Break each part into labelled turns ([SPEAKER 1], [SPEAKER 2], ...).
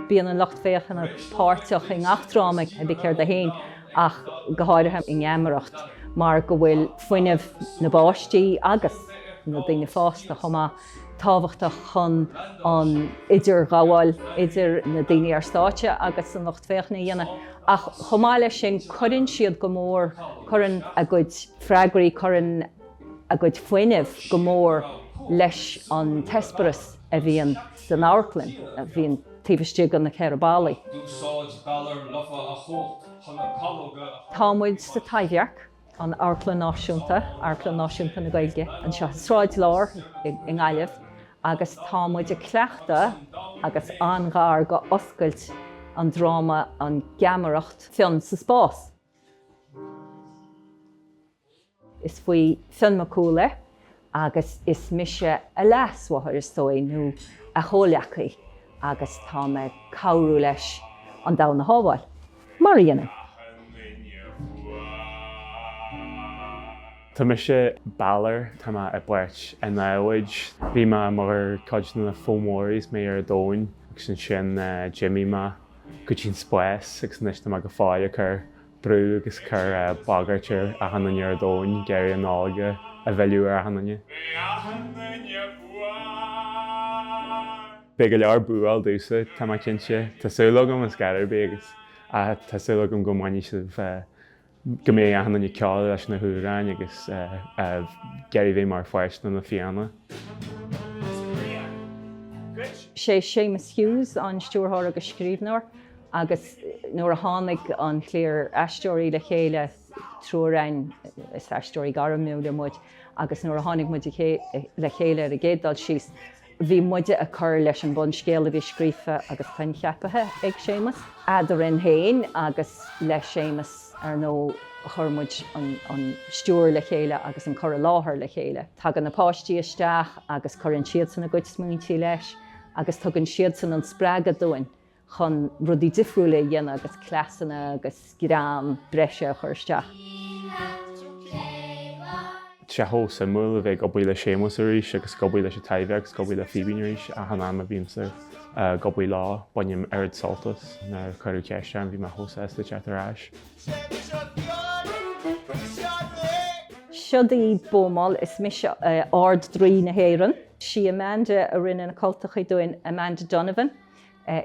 [SPEAKER 1] Bíonn an lucht féachana páirteach i ngach dráma ar bith céard é féin ach go háirithe i nGeamaireacht mar go bhfuil fuinneamh na bpáistí agus na daoine fásta chomh maith tábhachtach chun an idirghabháil idir na daoine ar stáitse agus an lucht féachana a dhéanamh ach chomh maith leis sin cuireann siad go mór cuireann a gcuid freagraí cuireann a gcuid fuinnimh go mór leis an t-eispéireas a bhíonn san amharclann, a bhíonn taobh istigh de na ceithre ballaí. D'úsáid Balor Lofa a chumhacht chun na calóga a chur Tá muid sa Taibhdhearc, an amharclann náisiúnta, amharclann náisiúnta na Gaeilge, anseo i Sráid Lár i nGaillimh agus tá muid ag cleachtadh agus an-ghar go oscailt an dráma An Gheamaireacht Fionn sa Spás. Is faoi Fionn Mac Cumhaill é agus is mise a leasmháthair, is dóigh, nó a chomhleacaí agus tá mé ag cabhrú leis an domhan a shábháil, mar a dhéanann
[SPEAKER 2] tú. Mise Balor, tá mé i bpáirt an namhaid. Bhí mé mar chuid de na Fomóraigh is mé ar an domhan agus ansin d'imigh mé go dtí an spás agus anois tá mé go fóill ag cur brú agus cur bagairt ar achan nduine ar domhan ag iarraidh an Nollaig a mhilleadh ar achan nduine. Beidh go leor búáil domhsa, tá mé cinnte. Tá súil agam ar scor ar bith agus tá súil agam go mbainfidh sibh, go mbeidh achan nduine ag ceol leis na hamhráin agus ag iarraidh bheith mar pháirt de na Fianna. Is
[SPEAKER 1] bréan duit. Sé Séamus Hughes an stiúrthóir agus scríbhneoir Agus nuair a tháinig an chliar aisteoirí le chéile, triúr againn, is aisteoirí gairmiúla muid, agus nuair a tháinig muid le chéile ar an gcéad dul síos, bhí muide ag cur leis an bhunscéal a bhí scríofa agus coincheapaithe ag Séamus. Eadrainn féin agus le Séamus, ar ndóigh, chuir muid an stiúir le chéile agus an cur i láthair le chéile. Tagann na páistí isteach agus cuireann siadsan a gcuid smaointe leis agus tugann siadsan an spreagadh dúinn chun rudaí difriúla a dhéanamh agus cleasanna agus greann breise a chur
[SPEAKER 2] isteach. Tá sé chomh suimiúil a bheith ag obair le Séamus arís agus ag obair leis an Taibhdhearc agus ag obair le Fíbín arís, achan am a bhímse ag obair leo bainim oiread sult as. Nuair a cuireadh ceist orm, bhí mé chomh sásta teacht ar
[SPEAKER 1] ais. Siod í Bómall, is mise Ard Draoi na hÉireann. Sí Amanda a rinne na cultachaí dúinn, Amanda Donovan.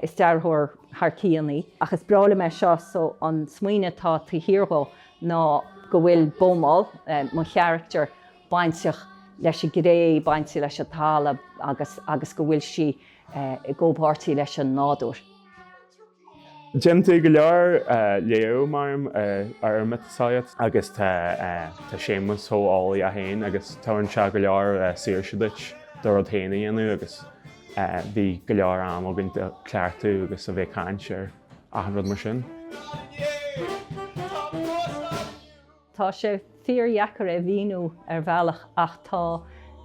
[SPEAKER 1] Is dearthóir thar cionn í. Ach is breá liom é seo, so an smaoineamh atá taobh thiar dhó ná go bhfuil Beaumol, mo character, bainteach leis an gcré, bainteach leis an talamh agus agus go bhfuil sí i gcomhpháirtí leis an
[SPEAKER 2] nádúr. Déanann tú go leor léamh, mar a déarfá, ar an miotaseolaíocht agus tá tá Séamas chomh heolaí é féin agus tabharann sé go leor saoirse duit do rud féin a dhéanamh agus bhí go leor am againn ag cleachtadh agus a bheith ag caint ar achan rud mar sin.
[SPEAKER 1] Tá sé fíor-dheacair é mhíniú ar bhealach ach tá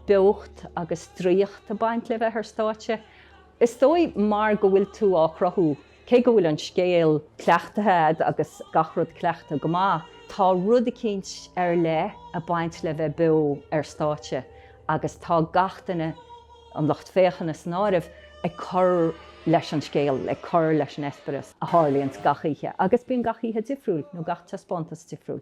[SPEAKER 1] beocht agus draíocht ag baint le bheith ar stáitse. Is dóigh mar go bhfuil tú á chruthú Cé go bhfuil an scéal cleachtaithe agus gach rud cleachtaithe go maith, tá rud eicínt ar leith ag baint le bheith beo ar stáitse agus tá gach duine, an lucht féachana san áireamh, ag cur leis an scéal, ag cur leis an eispéireas a tharlaíonns gach oíche agus bíonn gach oíche difriúil nó gach taispeántas difriúil.